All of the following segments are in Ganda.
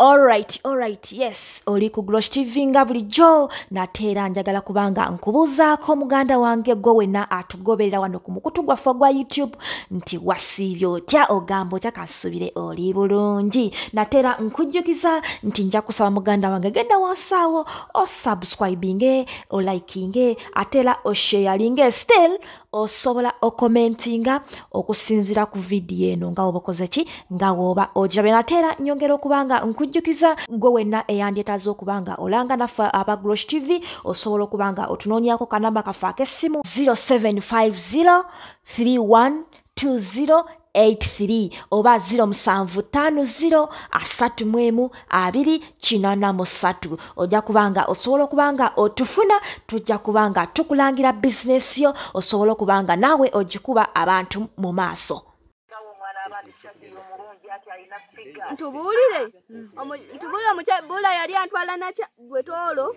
Alright, alright, yes, oli ku Glosh TV nga bulijjo nate era njagala kubanga nkubuuzaako muganda wange gwe wenna atugoberera wano ku mukutu gwaffe ogwa YouTube nti wasiibye otya ogamba otya kasubire oli bulungi nate era nkujjukiza nti nja kusaba muganda wange genda wansaawo osubscribinge olikinge ate era osheyalinge still osobola okomentinga okusinzira ku vidiyo eno nga woba okoze ki nga woba ogirabe nate era nyongera okuba nga nkujjukiza gwe wenna eyandyetaaza okuba nga olanga naffe aba grosh tv osobola okuba nga otunoonyako kanamba kaffe ak'essimu 0750 31 20 83 oba 0750 asatu mwemu abiri kinana musatu ojja kubanga osobola okubanga otufuna tujja kubanga tukulangira bizinesi yo osobola okubanga naawe ogikuba abantu mu maaso ntubuulire ntubuulire omukyabula yali antwala nakya gwetoolo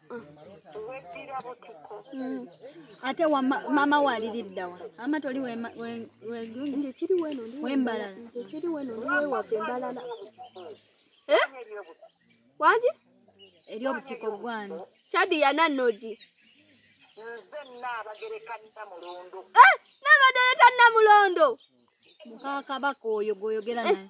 weddira butiko Mm. ate wa ma- maama we aliriddawa ama toli wema- we- wegundi nze kiri weno ndi Wembalala. nze kiri weno ndi wewaffe mbalala Eh? waki eri obutiko gwani kyadi yananogi nze nnaabagereka namulundu nabadde leta namulondo mukakabaka oyo gwoyogera naye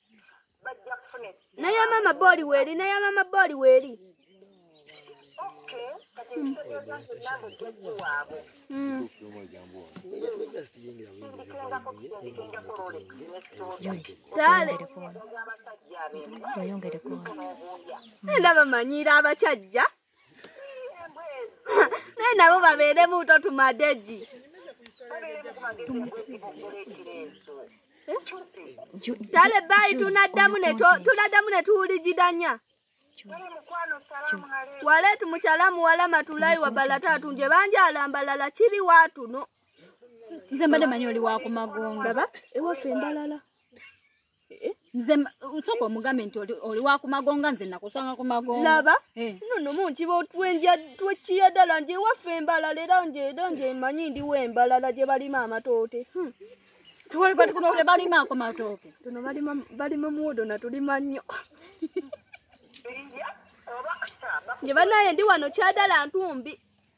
naye mama boli weli naye mama boli weli ndaba manyiira abakyajja naye nabo babeeremu to tumadeji tale bayi tunaddamu ne to- tunaddamu ne tuwuligidanya waletu mukyalamu wala matulayi wabalatatu nje banjala mbalala kiri watu no nze mbadde manyi oli wakumagonga baba ewaffe embalala Eh? nze usoko mugambe nti oli wa kumagonga nze nakusanga kumagonga laba eh. nono munti botwenja twekiya dala nje wafe embala lera nje nje manyi ndi we embala la je bali mama tote hmm. tuwali kwa tukuno ule bali mako matoke tuno bali mam bali mamudo na tuli manyo nje bana yendi wano cha dala ntumbi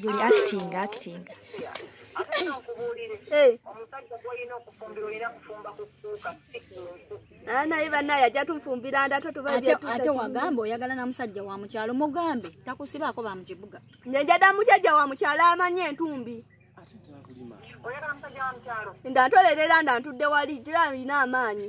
Guli acting, acting. Ah, naye banaye ajja tunfumbira ndata tubaate wagamba oyagala na musajja wa mukyalo mugambe takusibaako ba mukibuga njada mukyajja wa mukyalo amanye entumbi ndatolera era nda ntudde wali tira alina amaanyi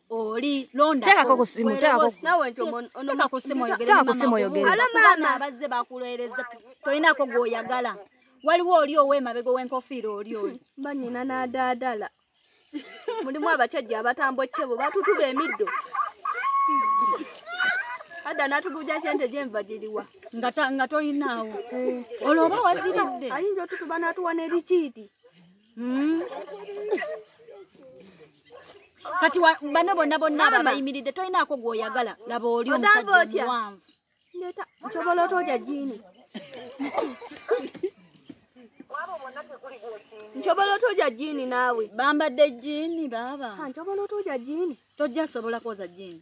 oli londa tekako kusimu tekako nawe nti ono ono tekako kusimu oyogere tekako kusimu oyogere alo mama abazze bakuloereza toyinako gwoyagala waliwo oli owemabego wenkofiira oli oli banyina nadadala mulimu abacajja abatambo kyebo batutuba emiddo ada natubuja sente gyenva giriwa nga tolinaawo eh. olwo oba waziridde ayinza otutuba natuwa nerikiiti Mm. kati wa- bano bonna bonna abo Maama. abayimiridde tolinaako gwoyagala laba oli Ogamba omusajja otya? omuwanvu Neta, nsobola otooja jini. Nsobola otooja jini naawe. bambadde jini baaba Ha, nsobola otooja jini. tojja sobola kwoza jini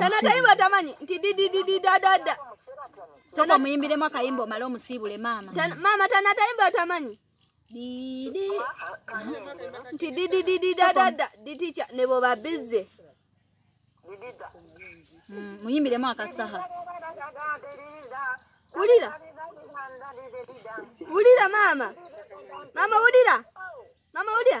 tana tayimu atamanyi nti dididididadada soka omuyimbiremu akayimba omale omusiibule maama maama tana tayimu atamanyi didi nti dididididadada diticha nebo babize mm, muyimbiremu akasaha wulira wulira maama maama wulira maama wulira